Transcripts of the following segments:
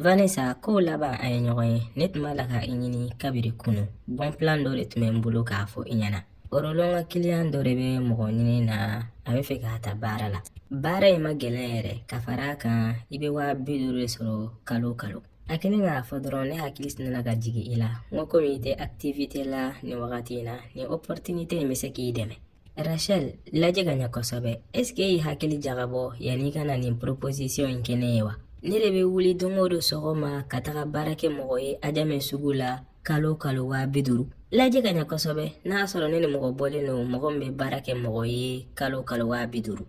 Vanessa k'o laban an ye ɲɔgɔn ye ne tun b'a la ka i ɲini kabiri kunu bon plan dɔ de tun bɛ n bolo k'a fɔ i ɲɛna Bɔrɔlɔn ka kiliyan dɔ de bɛ mɔgɔ ɲini na a bɛ fɛ k'a ta baara la baara in ma gɛlɛn yɛrɛ ka fara a kan i bɛ waa bi duuru de sɔrɔ kalo kalo a kɛlen k'a fɔ dɔrɔn ne hakili sinna ka jigin i la n ko komi i tɛ activité la nin wagati in na nin opportunité in bɛ se k'i dɛmɛ rachel lajɛ ka ɲɛ kosɛbɛ est ce que e y'i hakili jagabɔ yanni i ka na nin proposition in kɛ ne ye wa ne de bɛ wuli don o don sɔgɔma ka taga baara kɛ mɔgɔ ye ajamɛ sugu la kalo kalo waa bi duuru lajɛ ka ɲɛ kosɛbɛ n'a sɔrɔ ne ni mɔgɔ bɔlen don mɔgɔ min bɛ baara kɛ mɔgɔ ye kalo kalo waa bi duuru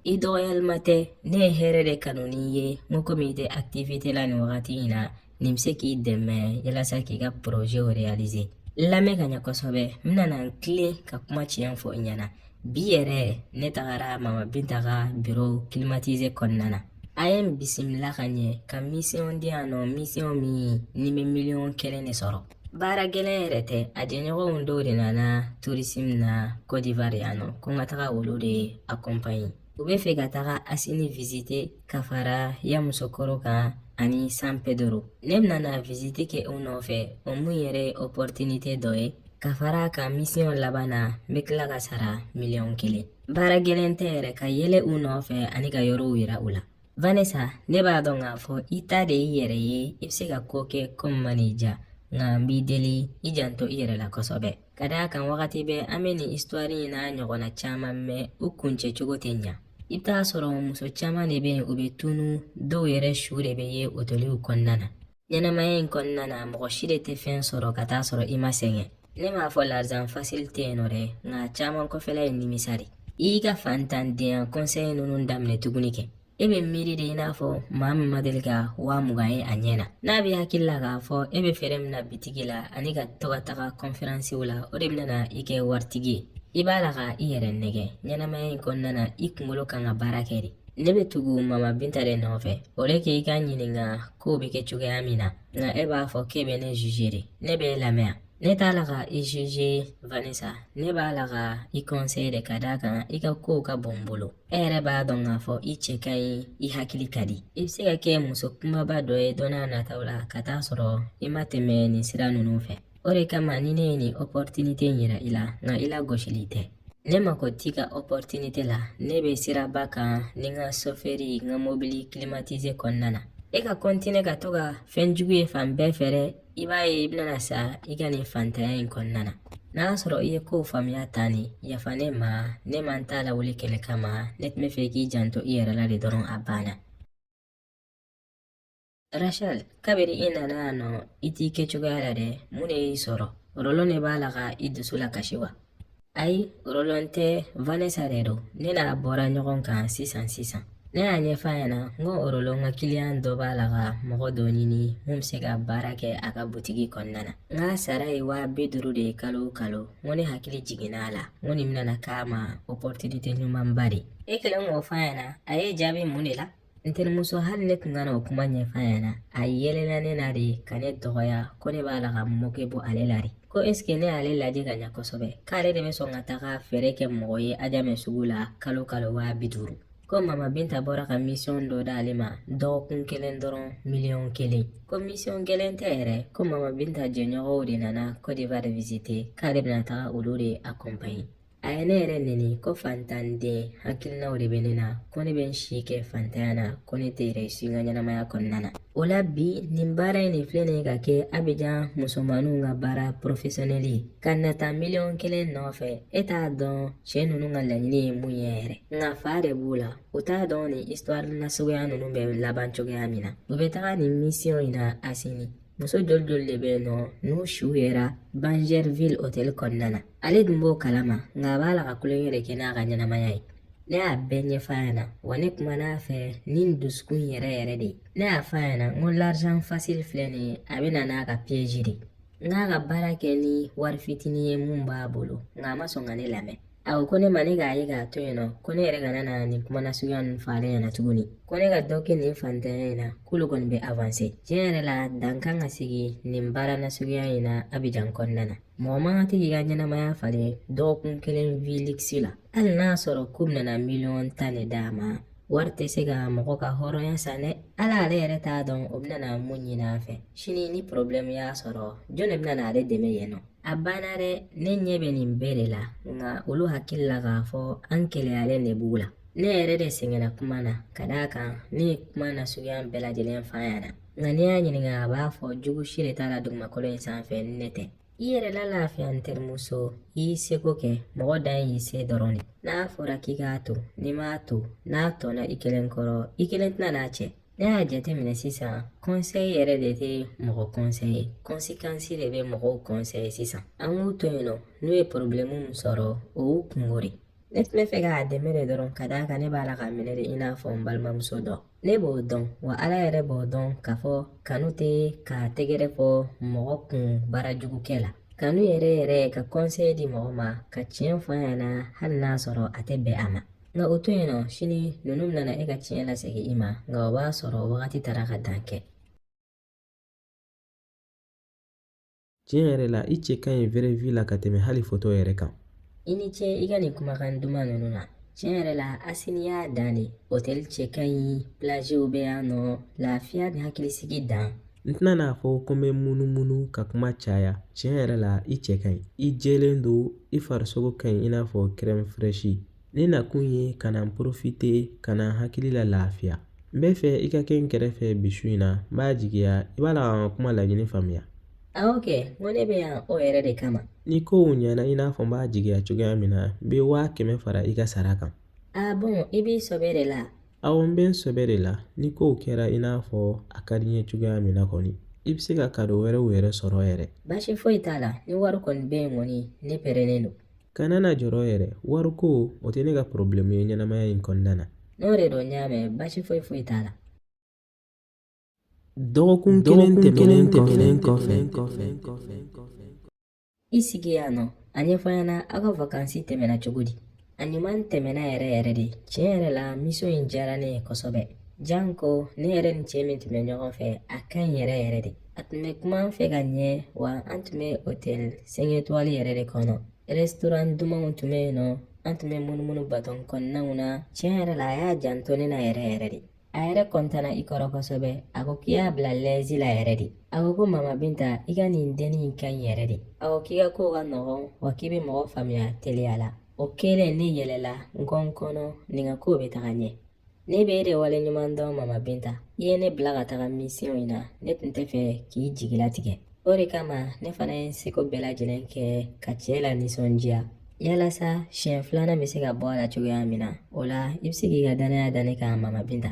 i dɔgɔyalima tɛ ne ye hɛrɛ de kanu i ye n ko komi i tɛ activité la nin wagati in na nin bɛ se k'i dɛmɛ yalasa k'i ka projet réaliser lamɛn ka ɲɛ kosɛbɛ n bɛna n tilen ka kuma tiɲɛ fɔ i ɲɛna bi yɛrɛ ne tagara mama binta ka biro kilimatize kɔnɔna na a ye n bisimila ka ɲɛ ka misiyɔn di yan nɔ misiyɔn min ne bɛ miliyɔn kelen de sɔrɔ baara gɛlɛn yɛrɛ tɛ a jɛɲɔgɔnw dɔw de nana turisimu na kɔdiwari yan nɔ ko n ka taga olu de akɔnpaɲe U bɛ fɛ ka taga asini visite ka fara yamusokoro kan ani san pedoro ne bɛna na visite kɛ u nɔfɛ o mun yɛrɛ ye opportunité dɔ ye ka fara a kan misiyɔn laban na n bɛ tila ka sara miliyɔn kelen baara gɛlɛn tɛ yɛrɛ ka yɛlɛ u nɔfɛ ani ka yɔrɔw yira u la vanessa ne b'a dɔn k'a fɔ i ta de y'i yɛrɛ ye i bɛ se ka ko kɛ ko min man'i diya nka n b'i deli i janto i yɛrɛ la kosɛbɛ ka d'a kan wagati bɛɛ an bɛ nin isitwari in n'a ɲɔgɔnna caman mɛn u kuncɛ cogo tɛ ɲa i bɛ t'a sɔrɔ muso caman de bɛ yen u bɛ tunu dɔw yɛrɛ su de bɛ ye otoliw kɔnɔna na ɲɛnamaya in kɔnɔna na mɔgɔ si de tɛ fɛn sɔrɔ ka t'a sɔrɔ i ma sɛgɛn ne m'a fɔ larzan fasili tɛ yen nɔ dɛ nka caman kɔfɛla ye nimisa de i y'i ka fantandenya kɔnsɛyi ninnu daminɛ tuguni kɛ e bɛ miiri de i n'a fɔ maa min ma deli ka waa mugan ye a ɲɛ na n'a b'e hakili la k'a fɔ e bɛ feere min na bitigi la ani ka to ka taga kɔnferansiw la o de bɛna na i kɛ waritigi ye i b'a la ka i yɛrɛ nɛgɛn ɲɛnamaya in kɔnɔna na i kunkolo kan ka baara kɛ de ne bɛ tugu mama binta de nɔfɛ o de k'i k'a ɲininka kow bɛ kɛ cogoya min na nka e b'a fɔ k'e bɛ ne juge de ne b'e lamɛn ne t'a la ka i juge vanessa ne b'a la ka i conseil de ka d'a kan i ka kow ka bon n bolo e yɛrɛ b'a dɔn k'a fɔ i cɛ ka ɲi i hakili ka di i bɛ se ka kɛ muso kumaba dɔ ye don na nataw la ka t'a sɔrɔ i ma tɛmɛ nin sira ninnu fɛ o de kama ni ne ye nin opportunité in yira i la nka i lagosili tɛ Ne mako t'i ka opportunité la ne bɛ siraba kan ni n ka sofɛri n ka mobili climatisé kɔnɔna na e ka kɔntine ka to ka fɛn jugu ye fan bɛɛ fɛ dɛ i b'a ye i bɛna sa i ka nin fantanya in kɔnɔna na n'a y'a sɔrɔ i ye kow faamuya tan ni yafa ne ma ne man t'a lawuli kɛlɛ kama ne tun b'a fɛ i k'i janto i yɛrɛ la de dɔrɔn a banna Rachel kabiri i nana yan nɔ i t'i kɛcogoya la dɛ mun de y'i sɔrɔ rolon de b'a la ka i dusu lakasi wa ayi rolon tɛ vanessa de don ne n'a bɔra ɲɔgɔn kan sisan sisan ne y'a ɲɛfɔ a ɲɛna n ko rolon ka kiliyan dɔ b'a la ka mɔgɔ dɔ ɲini mun bɛ se ka baara kɛ a ka butigi kɔnɔna na n k'a sara ye waa bi duuru de ye kalo o kalo n ko ne hakili jiginna a la n ko nin bɛna k'a ma opportunité ɲumanba de ye e kɛlen k'o fɔ a ɲɛna a y'i jaabi mun de la N terimuso hali ne tun kana o kuma ɲɛf'a ɲɛna a yɛlɛla ne na de ka ne dɔgɔya ko ne b'a la ka mɔnɛ bɔ ale la de ko esike ne y'ale lajɛ ka ɲa kosɛbɛ k'ale de bɛ sɔn ka taga feere kɛ mɔgɔ ye ajamɛ sugu la kalo kalo waa bi duuru ko mama binta bɔra ka misiyɔn dɔ d'ale ma dɔgɔkun kelen dɔrɔn miliyɔn kelen ko misiyɔn gɛlɛn tɛ yɛrɛ ko mama binta jɛɲɔgɔnw de nana kɔdiwari visite k'ale bɛna taga olu de akɔnpaɲe a ye ne yɛrɛ nɛni ko fantanden hakilinaw de bɛ ne na ko ne bɛ n si kɛ fantanya na ko ne tɛ réussir n ka ɲɛnamaya kɔnɔna na o la bi nin baara in de filɛ nin ye ka kɛ abijan musomaninw ka baara porofesiyɔnɛli ye ka nata miliyɔn kelen nɔfɛ e t'a dɔn cɛ ninnu ka laɲini ye mun ye yɛrɛ nka fa de b'u la u t'a dɔn nin histoire nasuguya ninnu bɛ laban cogoya min na u bɛ taga nin misiyɔn in na asini muso joli joli de bɛ yen nɔ n'u suw yera bingerville hôtel kɔnɔna na Ale dun b'o kalama nka a b'a la ka tulonkɛ de kɛ n'a ka ɲɛnamaya ye ne y'a bɛɛ ɲɛfɔ a ɲɛna wa ne kumana a fɛ ni n dusukun yɛrɛ yɛrɛ de ye ne y'a fɔ a ɲɛna n ko l'argent facile filɛ nin ye a bɛ na n'a ka piyeji de ye n k'a ka baara kɛ ni wari fitinin ye mun b'a bolo nka a ma sɔn ka ne lamɛn a ko ko ne ma ne k'a ye k'a to yen nɔ ko ne yɛrɛ kana na nin kuma nasuguya ninnu fɔ ale ɲɛna tuguni ko ne ka dɔ kɛ nin fantanya in na k'olu kɔni bɛ avanse tiɲɛ yɛrɛ la dan kan ka sigi nin baara nasuguya in na abijan kɔnɔna na Mɔgɔ man kan tɛ k'i ka ɲɛnamaya falen dɔgɔkun kelen vie luxe la hali n'a sɔrɔ k'u bɛna miliyɔn tan de d'a ma wari tɛ se ka mɔgɔ ka hɔrɔnya san dɛ ala ale yɛrɛ t'a dɔn o bɛna na mun ɲini a fɛ sini ni porobilɛmu y'a sɔrɔ jɔn de bɛna na ale dɛmɛ yen nɔ a banna dɛ ne ɲɛ bɛ nin bɛɛ de la nka olu hakili la k'a fɔ an keleyalen de b'u la ne yɛrɛ de sɛgɛnna kuma na ka d'a kan ne ye kuma nasuguya bɛɛ lajɛlen f'a ɲɛna Nka n'i y'a ɲininka a b'a fɔ jugu si de t'a la dugumakolo in sanfɛ ni ne tɛ i yɛrɛ lalafiya n terimuso i y'i seko kɛ mɔgɔ dan y'i se dɔrɔn de n'a fɔra k'i k'a to n'i m'a to n'a tɔnna i kelen kɔrɔ i kelen tɛna n'a cɛ ne y'a jateminɛ sisan kɔnsɛyi yɛrɛ de tɛ mɔgɔ kɔnsɛye kɔnsekansi de bɛ mɔgɔw kɔnsɛye sisan an k'u to yen nɔ n'u ye porobilɛmu min sɔrɔ o y'u kungo de ne tun bɛ fɛ k'a dɛmɛ de dɔrɔn ka d'a kan ne b'a la k'a minɛ de i n'a fɔ n balimamuso dɔ ne b'o dɔn wa ala yɛrɛ b'o dɔn k'a fɔ kanu tɛ ka tɛgɛrɛ fɔ mɔgɔ kun baara jugu kɛ la kanu yɛrɛ yɛrɛ ka kɔnsɛyi di mɔgɔ ma ka tiɲɛ fɔ a ɲɛna hali n'a sɔrɔ a tɛ bɛn a ma nka o to yen nɔ sini ninnu bɛna na e ka tiɲɛ lasegin i ma nka o b'a sɔrɔ wagati taara k'a dan kɛ Tiɲɛ yɛrɛ la i cɛ ka ɲi vraie vie la ka tɛmɛ hali foto yɛrɛ kan i ni ce i ka nin kumakan duman ninnu na tiɲɛ yɛrɛ la asini y'a dan de hotɛli cɛ ka ɲi plagew bɛ yan nɔ lafiya ni hakilisigi dan n tɛna n'a fɔ ko n bɛ munumunu ka kuma caya tiɲɛ yɛrɛ la i cɛ ka ɲi i jɛlen don i farisogo ka ɲi i n'a fɔ crème fraîche Ne nakun ye ka na porofite ka na hakili lalafiya n bɛ fɛ i ka kɛ n kɛrɛfɛ bi su in na n b'a jigiya i b'a la ka kuma laɲini faamuya awɔ kɛ n ko ne bɛ yan o yɛrɛ de kama ni kow ɲɛna i n'a fɔ n b'a jigiya cogoya min na n bɛ waa kɛmɛ fara i ka sara kan a bɔn i b'i sɔbɛ de la awɔ n bɛ n sɔbɛ de la ni kow kɛra i n'a fɔ a ka di n ye cogoya min na kɔni i bɛ se ka kado wɛrɛw yɛrɛ sɔrɔ yɛrɛ baasi foyi t'a la ni wari kɔni bɛ yen kɔni ne pɛrɛnnen don Kana na jɔrɔ yɛrɛ wari ko o tɛ ne ka porobilɛmu ye ɲɛnamaya in kɔnɔna na n'o de don n y'a mɛn baasi foyi foyi t'a la dɔgɔkun kelen tɛmɛnen tɛmɛnen kɔfɛ i sigi yan nɔ a ɲɛfɔ n ɲɛna aw ka vakansi tɛmɛna cogo di a ɲuman tɛmɛna yɛrɛ yɛrɛ de tiɲɛ yɛrɛ la misiyɔn in diyara ne ye kosɛbɛ janko ne yɛrɛ ni cɛ min tun bɛ ɲɔgɔn fɛ a ka ɲi yɛrɛ yɛrɛ de a tun bɛ kuma an fɛ ka ɲɛ wa an tun bɛ otɛli cinq étoiles yɛrɛ de kɔnɔ rɛstoran dumanw tun bɛ yen nɔ an tun bɛ munumunu batɔn kɔnɔnaw na tiɲɛ yɛrɛ la a y'a janto ne na yɛrɛ yɛrɛ de a yɛrɛ kɔntana i kɔrɔ kosɛbɛ a ko k'i y'a bila lɛzi la yɛrɛ de a ko ko mama binta i ka nin denni in ka ɲi yɛrɛ de a ko k'i ka kow ka nɔgɔn wa k'i bɛ mɔgɔ faamuya teliya la o kelen ne yɛlɛla n ko n kɔnɔ nin ka kow bɛ taga ɲɛ ne bɛ e de waleɲuman dɔn mama binta i ye ne bila ka taga misiyɔn in na ne tun tɛ fɛ k'i jigi latigɛ o de kama ne fana ye seko bɛɛ lajɛlen kɛ ka cɛ lanisɔndiya yalasa siɲɛ filanan bɛ se ka bɔ a la cogoya min na o la i bɛ se k'i ka danaya da ne kan mama binta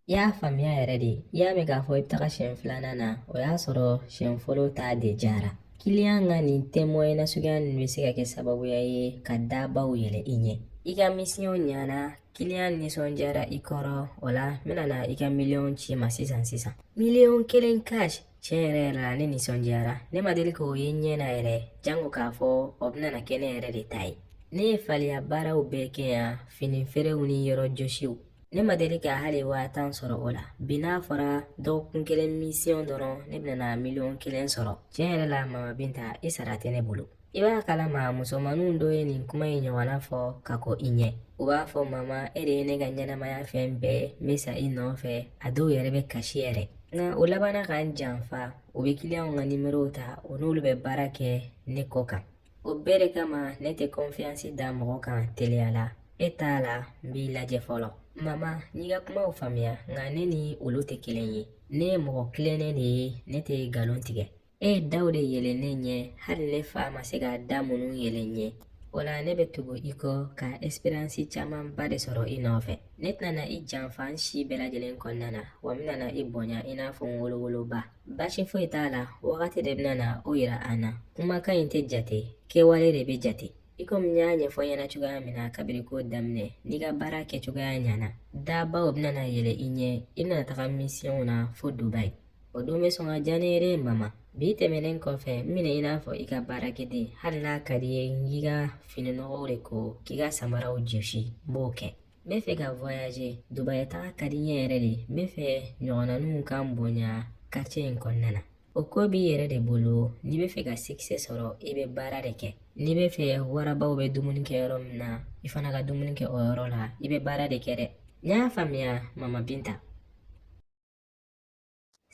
i y'a faamuya yɛrɛ de i y'a mɛn k'a fɔ i bɛ taga siɲɛ filanan na o y'a sɔrɔ siɲɛ fɔlɔ ta de diyara kiliyan ka nin témoignage suguya ninnu bɛ se ka kɛ sababuya ye ka dabaw yɛlɛ i ɲɛ i ka misiyɔn ɲana kiliyan nisɔndiyara i kɔrɔ o la n bɛna na i ka miliyɔn ci i ma sisan sisan miliyɔn kelen cash tiɲɛ yɛrɛ yɛrɛ la ne nisɔndiyara ne ma deli k'o ye n ɲɛ na yɛrɛ janko k'a fɔ o bɛna kɛ ne yɛrɛ de ta ye ne ye faliya baaraw bɛɛ kɛ yan fini feerew ni yɔrɔ jɔsiw ne ma deli ka hali waa tan sɔrɔ o la bi n'a fɔra dɔgɔkun kelen misiyɔn dɔrɔn ne bɛna miliyɔn kelen sɔrɔ tiɲɛ yɛrɛ la mama binta i sara tɛ ne bolo I b'a kalama musomaninw dɔw ye nin kuma in ɲɔgɔnna fɔ ka kɔn i ɲɛ u b'a fɔ mama e de ye ne ka ɲɛnamaya fɛn bɛɛ n bɛ sa i nɔfɛ a dɔw yɛrɛ bɛ kasi yɛrɛ nka u labanna ka n janfa u bɛ kiliyanw ka nimerow ta u n'olu bɛ baara kɛ ne kɔ kan o bɛɛ de kama ne tɛ kɔnfiyansi da mɔgɔ kan teliya la e t'a la n b'i lajɛ fɔlɔ mama n y'i ka kumaw faamuya nka ne ni olu tɛ kelen ye ne ye mɔgɔ tilennen de ye ne tɛ nkalon tigɛ E ye daw de yɛlɛ ne ɲɛ hali ne fa ma se ka da minnu yɛlɛ n ɲɛ o la ne bɛ tugu i kɔ ka expérience camanba de sɔrɔ i nɔfɛ ne tɛna i janfa n si bɛɛ lajɛlen kɔnɔna na wa n bɛna i bonya i n'a fɔ n wolowoloba baasi foyi t'a la wagati de bɛna na o yira an na kumakan in tɛ jate kɛwale de bɛ jate i komi n y'a ɲɛfɔ i ɲɛna cogoya min na kabiri ko daminɛ n'i ka baara kɛcogoya ɲana dabaw bɛna na yɛlɛ i ɲɛ i bɛna taga misiyɔnw na fo dubayi O don bɛ sɔn ka diya ne yɛrɛ ye mama bi tɛmɛnen kɔfɛ n minɛ i n'a fɔ i ka baarakɛden hali n'a ka di i ye n k'i ka fini nɔgɔw de ko k'i ka samaraw jɔsi n b'o kɛ n bɛ fɛ ka voyager dubayi taga ka di n ye yɛrɛ dɛ n bɛ fɛ n ɲɔgɔnnaninw ka n bonya quartier in kɔnɔna na o ko b'i yɛrɛ de bolo n'i bɛ fɛ ka sikisɛ sɔrɔ i bɛ baara de kɛ n'i bɛ fɛ warabaw bɛ dumuni kɛ yɔrɔ min na i fana ka dumuni kɛ o yɔrɔ la i bɛ baara de kɛ dɛ n y'a faamuya mama binta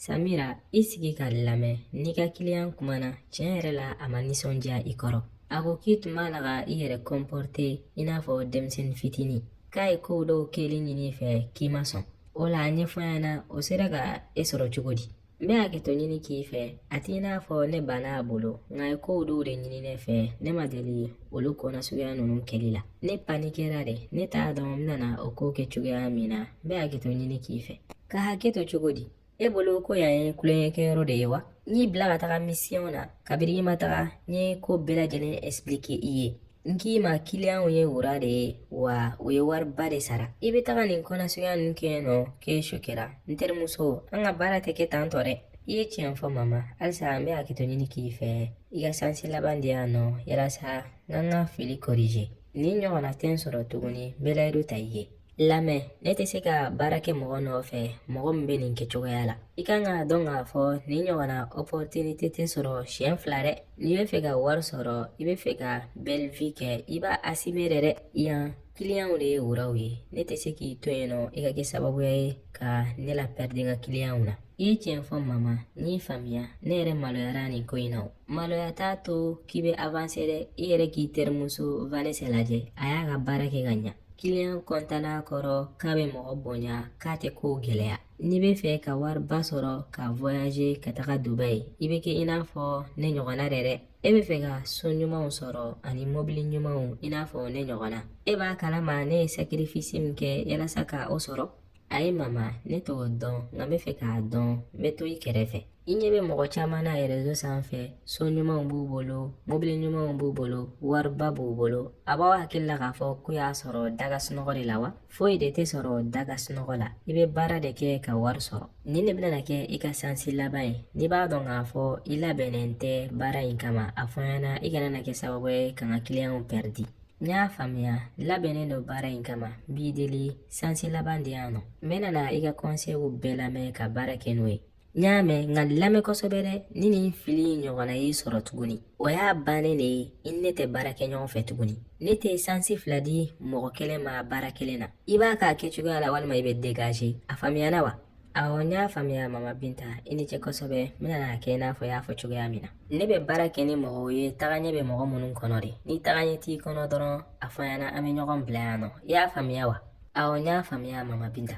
Samira i sigi ka n lamɛn n n'i ka kiliyan kumana tiɲɛ yɛrɛ la a ma nisɔndiya i kɔrɔ a ko k'i tun b'a la ka i yɛrɛ kɔnpɔrte i n'a fɔ denmisɛnnin fitinin k'a ye kow dɔw kɛli ɲini i fɛ k'i ma sɔn o la a ɲɛfɔ n ɲɛna o sera ka e sɔrɔ cogo di n bɛ hakɛto ɲini k'i fɛ a t'i n'a fɔ ne banna a bolo nka a ye kow dɔw de ɲini ne fɛ ne ma deli olu ko nasuguya ninnu kɛli la ne panikera de ne t'a dɔn n bɛna o ko kɛ cogoya min na n bɛ hakɛto ɲini k'i fɛ ka hakɛ to cogo di e bolo ko yan ye tulonkɛkɛyɔrɔ de ye wa n y'i bila ka taga misiyɔn na kabiri i ma taga n ye ko bɛɛ lajɛlen ɛsipilike i ye n k'i ma kiliyanw ye wara de ye wa u ye wariba de sara i bɛ taga nin ko nasuguya ninnu kɛ yen nɔ k'e sokera n terimuso an ka baara tɛ kɛ tan tɔ dɛ i ye tiɲɛ fɔ mama halisa n bɛ hakɛto ɲini k'i fɛ i ka sansi laban di yan nɔ yalasa n ka n ka fili kɔrije nin ɲɔgɔnna tɛ n sɔrɔ tuguni belayidu ta i ye lamɛn ne tɛ se ka baara kɛ mɔgɔ nɔfɛ mɔgɔ min bɛ nin kɛcogoya la i kan k'a dɔn k'a fɔ nin ɲɔgɔnna opportunité tɛ sɔrɔ siɲɛ fila dɛ n'i bɛ fɛ ka wari sɔrɔ i bɛ fɛ ka belle vie kɛ i b'a assumer dɛ yan kiliyanw de ye oraw ye ne tɛ se k'i to yen nɔ i ka kɛ sababuya ye ka ne lapɛridi n ka kiliyanw na i ye tiɲɛ fɔ mama n y'i faamuya ne yɛrɛ maloyara nin ko in na o maloya t'a to k'i bɛ avanse dɛ i yɛrɛ k'i terimuso vanesa lajɛ a y'a ka baara kɛ ka ɲa kiliyan kɔntana a kɔrɔ k'a bɛ mɔgɔ bonya k'a tɛ kow gɛlɛya n'i bɛ fɛ ka wariba sɔrɔ ka voyaje ka taga dubayi i bɛ kɛ i n'a fɔ ne ɲɔgɔnna de dɛ e bɛ fɛ ka so ɲumanw sɔrɔ ani mɔbili ɲumanw i n'a fɔ ne ɲɔgɔnna e b'a kalama ne ye sakirifisi min kɛ yalasa ka o sɔrɔ ayi mama ne t'o dɔn nka n bɛ fɛ k'a dɔn n bɛ to i kɛrɛfɛ i ɲɛ bɛ mɔgɔ caman na erezo sanfɛ so ɲumanw b'u bolo mobili ɲumanw b'u bolo wariba b'u bolo a b'aw hakili la k'a fɔ k'u y'a sɔrɔ da ka sunɔgɔ de la wa foyi de tɛ sɔrɔ da ka sunɔgɔ la i bɛ baara de kɛ ka wari sɔrɔ nin de bɛna kɛ i ka sansi laban ye n'i b'a dɔn k'a fɔ i labɛnnen tɛ baara in kama a fɔ n ɲɛna i kana na kɛ sababu ye ka n ka kiliyanw pɛridi n y'a faamuya labɛnnen don baara in kama n b'i deli sansi laban di yan nɔ n bɛna na i ka kɔnsɛyiw bɛɛ lamɛn ka baara kɛ n'o ye n y'a mɛn nka n lamɛn kosɛbɛ dɛ ni nin fili in ɲɔgɔnna y'i sɔrɔ tuguni o y'a bannen de ye i ni ne tɛ baara kɛ ɲɔgɔn fɛ tuguni ne tɛ sansi fila di mɔgɔ kelen ma baara kelen na i b'a k'a kɛcogoya la walima i bɛ degaze a faamuyana wa awɔ n y'a faamuya mama binta i ni ce kosɛbɛ n bɛna n'a kɛ i n'a fɔ i y'a fɔ cogoya min na ne bɛ baara kɛ ni mɔgɔw ye tagaɲɛ bɛ mɔgɔ minnu kɔnɔ de ni tagaɲɛ t'i kɔnɔ dɔrɔn a fɔ an ɲɛna an bɛ ɲɔgɔn bila yan nɔ i y'a faamuya wa awɔ n y'a faamuya mama binta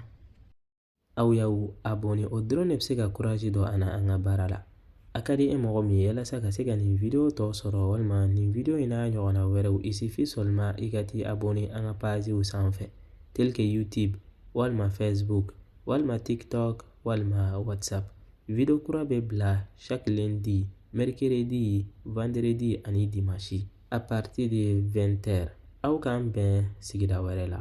Aw y'aw abonné o dɔrɔn de bɛ se ka kuraji don an na an ka baara la a ka di e mɔgɔ min ye walasa ka se ka nin video tɔ sɔrɔ walima nin video in n'a ɲɔgɔnna wɛrɛw il suffit seulement i ka t'i abonné an ka paziw sanfɛ tel que youtube walima facebook walima tiktok walima whatsapp video kura bɛ bila chaque lundi mercredi vendredi ani dimanche à partir de 20 heures aw k'an bɛn sigida wɛrɛ la